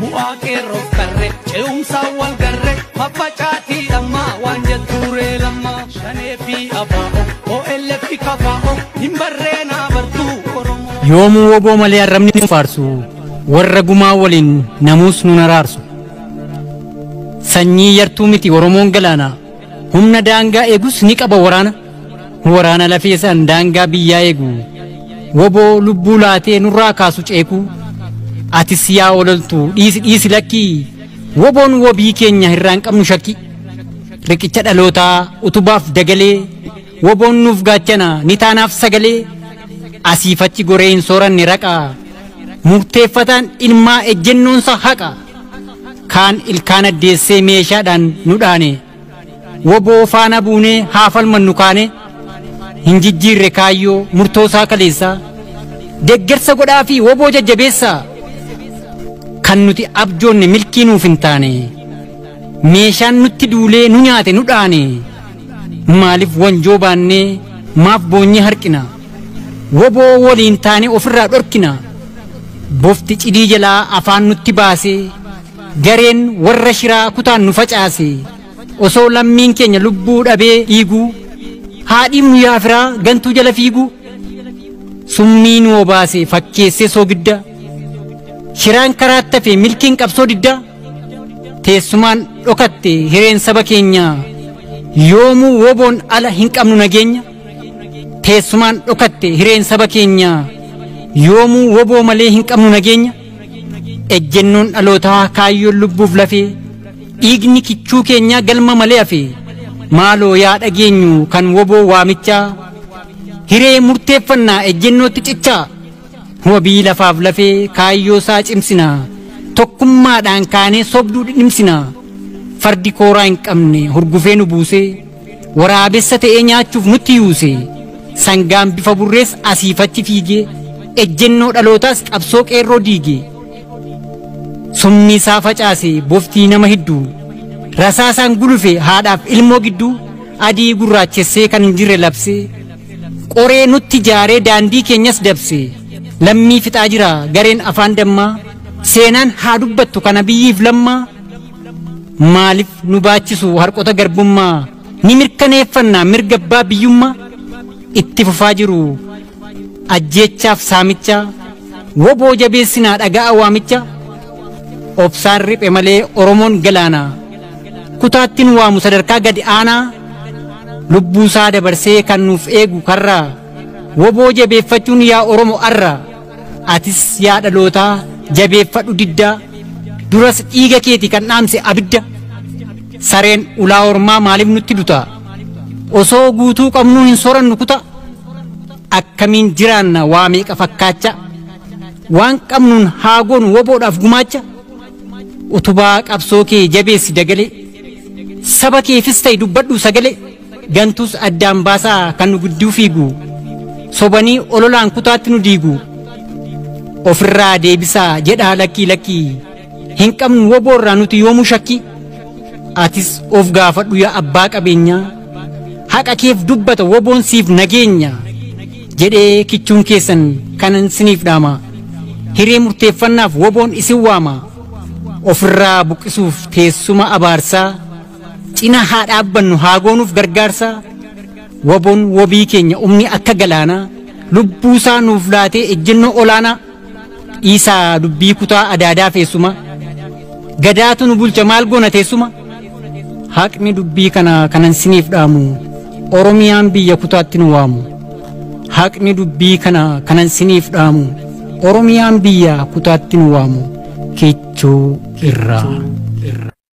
bu'aa qeerroof qarre ce'umsaan wal garre faffacaatii dhammaa waan jettuuree lammaa shanee fi abaa'o OLF fi kafaa'o hin barree naa bartuu oromoo. yoomuu woboo malee arrabni nu faarsu warra gumaa waliin namuus nu naraarsu sanyii yartuu miti oromoon galaana humna daangaa eegus ni qaba waraana Waraana lafee san daangaa biyyaa eegu. Woboo lubbuu laatee nurraa kaasu ceekuu. Atis yaa ololtu dhiisi dhiisi lakkii. Woboon wobii keenya hirraan qabnu shakkii. Riqicha dhalootaa utubaaf dagalee. Woboon nuuf gaachana ni taanaaf sagalee. Asiif achi goree hin sooranne raqa. Murteeffataan ilmaa ejjennoonsa haqa. Kaan ilkaan addeessee meeshaadhaan nu dhaane. Woboo faana buunee haa falmannu kaanee hin jijjiirre kaayyoo murtoo isaa kaleessaa deggersa godhaa fi woboo jajjabeessaa kan nuti abjoonne milkii nuuf hin taane meeshaan nutti duulee nu nyaate nu dhaane maaliif wanjoo baannee maaf boonyee harkina woboo waliin taanee ofirraa dhorkina bofti cidii jalaa afaan nutti baasee gareen warra shiraa kutaan nu facaase osoo lammiin keenya lubbuu dhabee dhiiguu haadhiin guyyaa firaa gantuu jala fiiguu summii nu obaase fakkeessee soogidda shiraan karaatti hafe milkiin qabsoo didda teessumaan dhokatte hireen saba keenyaa yoomuu woboon ala hin qabnu nageenya teessumaan dhokatte hireen saba keenyaa yoomuu woboo malee hin qabnu nageenya Ejjennoon dhalootaa kaayyoon lubbuuf lafee dhiigni kichuu keenyaa galma malee hafe maaloo yaa dhageenyu kan woboo waamichaa hiree murteeffannaa ejjennootti cichaa wabii lafaaf lafee kaayyoo isaa cimsina tokkummaadhaan kaanee sobduu dhidhimsina fardi kooraa hin qabne hurgufee nu buusee. waraabessa ta'ee nyaachuuf nutti yuuse sangaan bifa burrees asiifachi fiigee ejjennoo dhalootaas qabsoo qeerroo diigee summii isaa facaase boftii nama hidduu rasaasaan gulufe haadhaaf ilmoo gidduu adii gurraachessee kan hin jirre labsee qoree nutti jaaree daandii keenyas dabse lammii fixaa jira gareen afaan dammaa seenaan haa dubbattu kana biyyiif lammaa Maaliif nu baachisu harqota garbummaa ni mirkaneeffanna mirga abbaa biyyummaa itti fufaa jiru ajjeechaaf saamicha woboo jabeessinaa dhaga'a waamicha obsaan riphe malee oromoon galaana kutaatti nu waamu sadarkaa gadi aanaa lubbuusaa dabarsee kan nuuf eegu karraa woboo jabeeffachuun yaa oromo arra. Atis yaa dhalootaa jabeeffadhu diddaa duras dhiiga keeti kan dhaamse abidda sareen ulaa ormaa maaliif nutti dutaa osoo guutuu qabnuu hin sorannu kutaa akkamiin jiraanna waa meeqa fakkaacha waan qabnuun haagoon woboodhaaf gumaacha utubaa qabsoo kee jabeessi dagalee saba keefis ta'e dubbadhu sagalee. Gantuus addaan baasaa kan nu gidduu fiigu sobanii ololaan kutaatti nu diigu ofirraa deebisaa jedhaa lakkii lakkii hin qabnu woboorraa nuti yoomuu shakkii atis of gaafadhu yaa abbaa qabeenyaa haqa keef dubbata woboon siif nageenya jedhee kichuun keessan kanan siniif dhaama hiree murteeffannaaf woboon isin waama ofirraa buqqisuuf teessuma abaarsaa cina haa dhaabbannu haa goonuuf gargaarsa waboon wabii keenya umni akka galaanaa lubbuusaa nuuf laatee ejjennoo olaanaa dhiisaa dubbii kutaa adaadaa feessuma gadaatu nu bulcha maal goona teessuma haqni dubbii kana kanan siniif dhaamu oromiyaan biyya kutaatti nu waamu haqni dubbii kana kanan siniif dhaamu oromiyaan biyya kutaatti nu waamu kichuu irraa.